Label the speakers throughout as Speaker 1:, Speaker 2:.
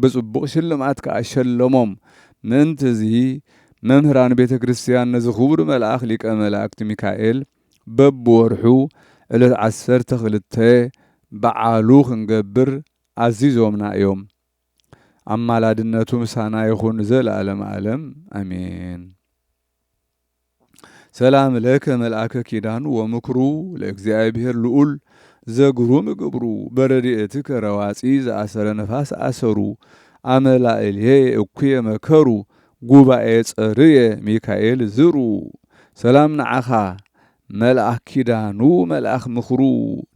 Speaker 1: ብጽቡቕ ሽልማት ከኣ ሸለሞም። ምእንት'ዚ መምህራን ቤተ ክርስቲያን ነዚ ክቡር መልኣኽ ሊቀ መላእክት ሚካኤል በብወርሑ ዕለት ዓሰርተ ክልተ በዓሉ ክንገብር ኣዚዞምና እዮም። ኣማላድነቱ ምሳና ይኹን ንዘለኣለመ ኣለም ኣሜን። ሰላም ለከ መልኣከ ኪዳን ወምክሩ ለእግዚኣብሔር ልዑል ዘግሩም ግብሩ በረድኤትከ ረዋፂ ዘኣሰረ ነፋስ ኣሰሩ ኣመላእልየ እኩየ መከሩ ጉባኤ ጸርየ ሚካኤል ዝሩ ሰላም ንዓኻ መልኣክ ኪዳኑ መልኣክ ምክሩ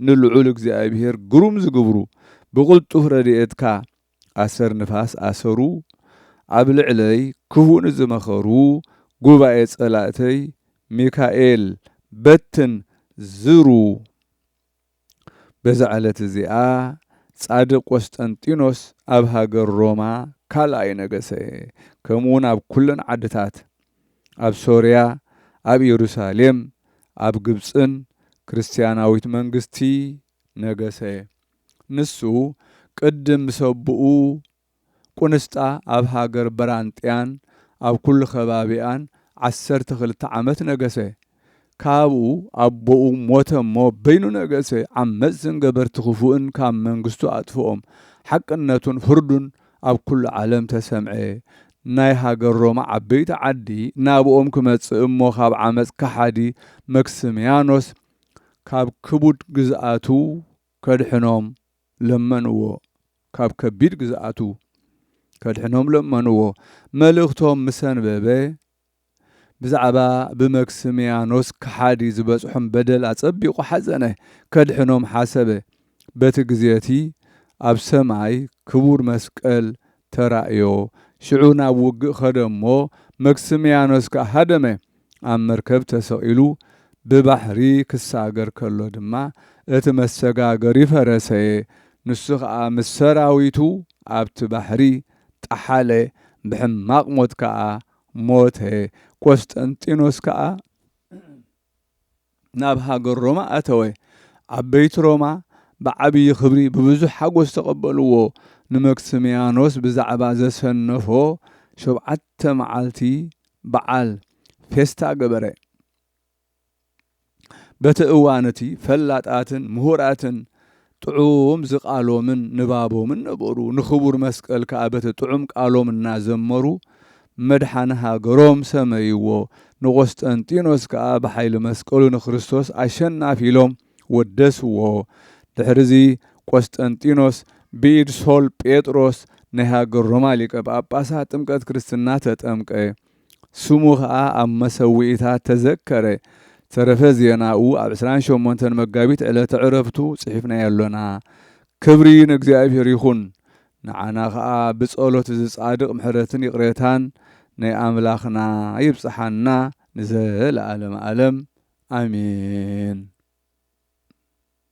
Speaker 1: ንልዑል እግዚኣብሔር ግሩም ዝግብሩ ብቅልጡፍ ረድኤትካ ኣሰር ንፋስ ኣሰሩ ኣብ ልዕለይ ክሁ ንዝመኸሩ ጉባኤ ጸላእተይ ሚካኤል በትን ዝሩ በዛ ዕለት እዚኣ ጻድቅ ቆስጠንጢኖስ ኣብ ሃገር ሮማ ካልኣይ ነገሰ ከምኡውን ኣብ ኩለን ዓድታት ኣብ ሶርያ ኣብ ኢየሩሳሌም ኣብ ግብጽን ክርስትያናዊት መንግስቲ ነገሰ። ንሱ ቅድም ምስ ኣቡኡ ቁንስጣ ኣብ ሃገር በራንጥያን ኣብ ኩሉ ከባቢኣን ዓሰርተ ክልተ ዓመት ነገሰ። ካብኡ ኣቦኡ ሞተ እሞ በይኑ ነገሰ። ዓመጽትን ገበርቲ ክፉእን ካብ መንግስቱ ኣጥፍኦም። ሓቅነቱን ፍርዱን ኣብ ኩሉ ዓለም ተሰምዐ። ናይ ሃገር ሮማ ዓበይቲ ዓዲ ናብኦም ክመጽእ እሞ ካብ ዓመጽ ከሓዲ መክስምያኖስ ካብ ክቡድ ግዝኣቱ ከድሕኖም ለመንዎ ካብ ከቢድ ግዝኣቱ ከድሕኖም ለመንዎ። መልእኽቶም ምስ ኣንበበ፣ ብዛዕባ ብመክስምያኖስ ከሓዲ ዝበጽሖም በደል ኣጸቢቑ ሓዘነ። ከድሕኖም ሓሰበ። በቲ ግዜ እቲ ኣብ ሰማይ ክቡር መስቀል ተራእዮ። ሽዑ ናብ ውግእ ኸደ እሞ፣ መክስምያኖስ ከኣ ሃደመ። ኣብ መርከብ ተሰቒሉ ብባሕሪ ክሳገር ከሎ ድማ፣ እቲ መሰጋገሪ ፈረሰ፣ ንሱ ኸኣ ምስ ሰራዊቱ ኣብቲ ባሕሪ ጠሓለ፣ ብሕማቕ ሞት ከኣ ሞተ። ቈስጠንጢኖስ ከኣ። ናብ ሃገር ሮማ ኣተወ። ዓበይቲ ሮማ ብዓብዪ ኽብሪ ብብዙሕ ሓጐስ ተቐበልዎ፣ ንመክስምያኖስ ብዛዕባ ዘሰነፎ ሾብዓተ መዓልቲ በዓል፣ ፌስታ፣ ገበረ። በቲ እዋን እቲ ፈላጣትን ምሁራትን ጥዑም ዝቃሎምን ንባቦምን ነበሩ። ንክቡር መስቀል ከኣ በቲ ጥዑም ቃሎም እናዘመሩ መድሓኒ ሃገሮም ሰመይዎ። ንቆስጠንጢኖስ ከኣ ብሓይሊ መስቀሉ ንክርስቶስ ኣሸናፊ ኢሎም ወደስዎ። ድሕሪዚ ቆስጠንጢኖስ ብኢድ ሶል ጴጥሮስ ናይ ሃገር ሮማ ሊቀ ጳጳሳት ጥምቀት ክርስትና ተጠምቀ። ስሙ ከኣ ኣብ መሰውኢታት ተዘከረ። ተረፈ ዜናኡ ኣብ ዕስራን ሸሞንተን መጋቢት ዕለተ ዕረፍቱ ጽሒፍናዮ ኣሎና። ክብሪ ንእግዚኣብሔር ይኹን። ንዓና ከኣ ብጸሎት እዚ ጻድቕ ምሕረትን ይቕሬታን ናይ ኣምላኽና ይብጽሓና ንዘለኣለመ ኣለም ኣሜን።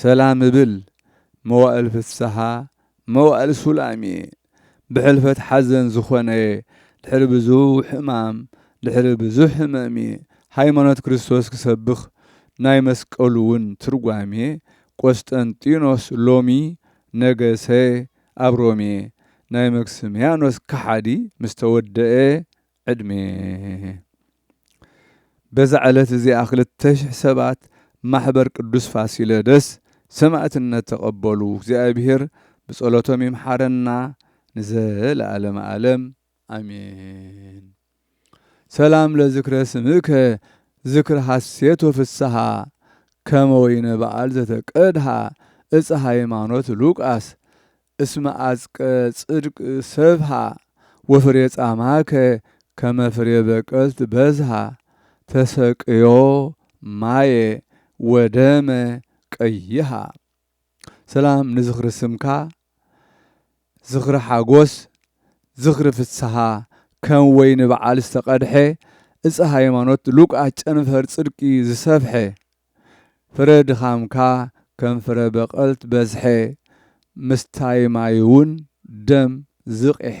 Speaker 1: ሰላም እብል መዋእል ፍስሃ መዋእል ሱላም'የ ብሕልፈት ሓዘን ዝኾነ'የ ድሕሪ ብዙሕ ሕማም ድሕሪ ብዙሕ ሕመም'የ ሃይማኖት ክርስቶስ ክሰብኽ ናይ መስቀሉ'ውን ትርጓሜ ቆስጠንጢኖስ ሎሚ ነገሰ ኣብ ሮሜ ናይ መክስምያኖስ ከሓዲ ምስተወደኤ ዕድሜ። በዛ ዕለት እዚኣ ክልተ ሽሕ ሰባት ማሕበር ቅዱስ ፋሲለደስ ሰማእትነት ተቐበሉ። እግዚኣብሔር ብጸሎቶም ይምሓረና ንዘለዓለመ ዓለም ኣሜን። ሰላም ለዝክረ ስምከ ዝክር ሐሴት ወፍስሃ ከመ ወይነ በዓል ዘተቀድሃ እፀ ሃይማኖት ሉቃስ እስመ ኣጽቀ ጽድቅ ሰብሃ ወፍሬ ጻማከ ከመ ፍሬ በቀልት በዝሃ ተሰቅዮ ማየ ወደመ ቀይሃ። ሰላም ንዝኽሪ ስምካ ዝኽሪ ሓጎስ ዝኽሪ ፍስሃ ከም ወይኒ በዓል ዝተቀድሐ ዕጸ ሃይማኖት ሉቃስ ጨንፈር ጽድቂ ዝሰፍሐ። ፍረ ድኻምካ ከም ፍረ በቐልት በዝሐ፣ ምስታይ ማይውን ደም ዝቚሐ።